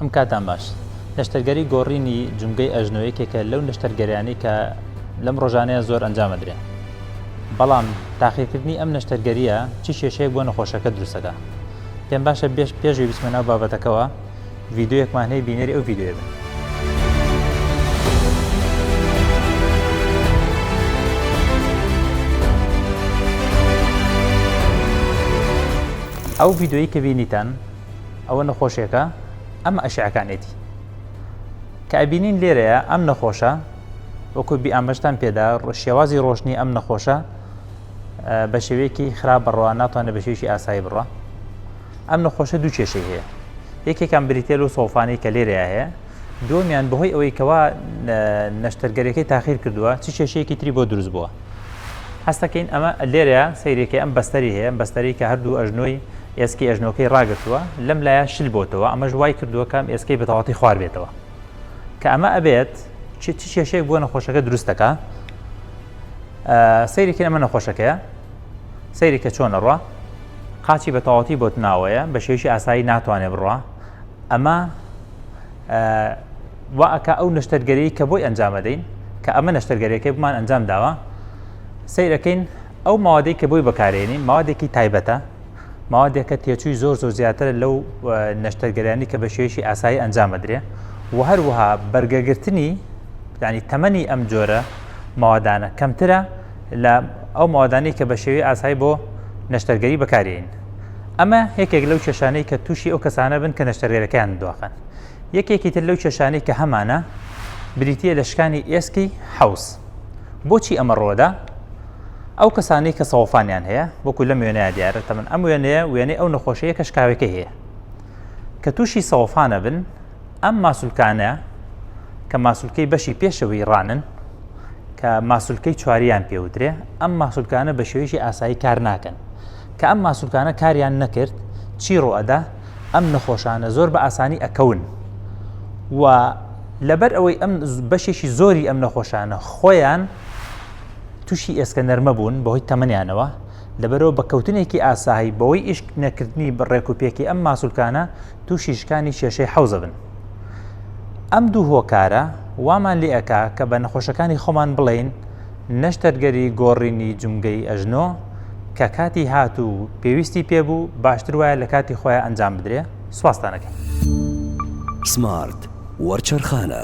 ئەم کاتان باش نەشتەرگەری گۆڕینی جومگەی ئەژنۆ یەکێکە لەو نەشتەرگەریانەی کە لەم ڕۆژانەیە زۆر ئەنجامەدرێن بەڵام تاقیکردنی ئەم نەشتەرگەریە چی کێشەیەک بۆ نەخۆشەکە دروستەکە پێم باشە بێش پێشوی بچمە ناو بابەتەکەەوە ڤیددیوەکمان هەیە بینەری ئەو ڤیددیوێ بن ئەو ڤیددیوی کە بینیتان ئەوە نەخۆشێکە ئەمە ئەشعەکانێتی کە ئەبینین لێرەیە ئەم نەخۆشە وەکو بی ئامەشتان پێدا شێوازی ڕۆشنی ئەم نەخۆشە بە شێوەیەکی خراپ بڕە ناتوانێت بە شێوکی ئاسایی بڕە ئەم نەخۆشە دوو کێشەی هەیە یەکێکم بریتێل و سۆفانی کە لێرە هەیە دووەمیان بەهۆی ئەوەی کەوا نەشتەرگەریەکەی تاخیر کردووە چ کێشەیەکی تری بۆ دروست بووە هەستەکەین ئەمە لێرە سەیرێکی ئەم بەستەری هەیە بەستەری کە هەردوو ئەژنۆی ئێسکی ئەژنۆکەی ڕاگرتووە لەم لایە شل بۆتەوە ئەمەش وای کردووەکەم ئێسکەی بەتەواتی خوار بێتەوە کە ئەمە ئەبێت چ کێشەیەک بۆ نەخۆشەکە دروستەکە سەیرێکی ئەمە نەخۆشەکەیە سەیرێکە چۆن ئەڕە قاچی بە تەواتی بۆت ناوەیە بە شێوشی ئاسایی ناتوانێ بڕە ئەمە وا ئەک ئەو نشتەرگەری کە بۆی ئەنجامەدەین کە ئەمە نشتەرگەرەکەی بمان ئەنجام داوە سیرەکەین ئەو ماوەدەی کە بۆی بەکارێنین ماوەێکی تایبەتە ماوەێکە تێچووی زۆر زۆر زیاتر لەو نشتەرگەرانی کە بە شێوەیەکی ئاسایی ئەنجامەدرێ و هەروەها بەرگەگرتنی ینی تەمەنی ئەم جۆرە ماوەدانە کەمترە لە ئەو مادانەی کە بە شێوی ئاسایی بۆ نشتەرگەری بەکارین ئەمە یەکێک لەو کێشانەی کە تووشی ئەو کەسانە بن کە نەشتەرگەرەکەیان دواخەن یەکێکی تر لەو کێشانەی کە هەمانە بریتە لە شکانی ئێسکی حوز بۆچی ئەمە ڕۆدا ئەو کەسانەی کە سەوفانیان هەیە وەکو لەم وێنەیە دیارە تەمن ئەم وێنەیە وێنەی ئەو نەخۆشەیە کە شکاوەکە هەیە کە تووشی سەوفانە بن ئەم ماسولکانە کە ماسولکەی بەشی پێشەوەی ڕانن کە ماسولکەی چواریان پێودرێ ئەم ماسولکانە بە شێوەیەکی ئاسایی کار ناکەن کە ئەم ماسولکانە کاریان نەکرد چی ڕۆئەدا ئەم نەخۆشانە زۆر بە ئاسانی ئەکەون و لەبەر ئەوەی ئەم بەشێکی زۆری ئەم نەخۆشانە خۆیان تووشی ئێسکە نەرمە بوون بەهۆی تەمەنیانەوە لەبەرەوە بە کەوتنێکی ئاسایی بەوەی ئیشک نەکردنی بە ڕێکوپێکی ئەم ماسولکانە تووشی شکانی کێشەی حەوزە بن ئەم دوو هۆکارە وامان لێ ئەکا کە بە نەخۆشەکانی خۆمان بڵین نەشتەرگەری گۆڕینی جمگەی ئەژنۆ کە کاتی هات و پێویستی پێبوو باشتر وایە لە کاتی خۆیان ئەنجام بدرێ سوواستانەکەی سمارت وەرچەرخانە.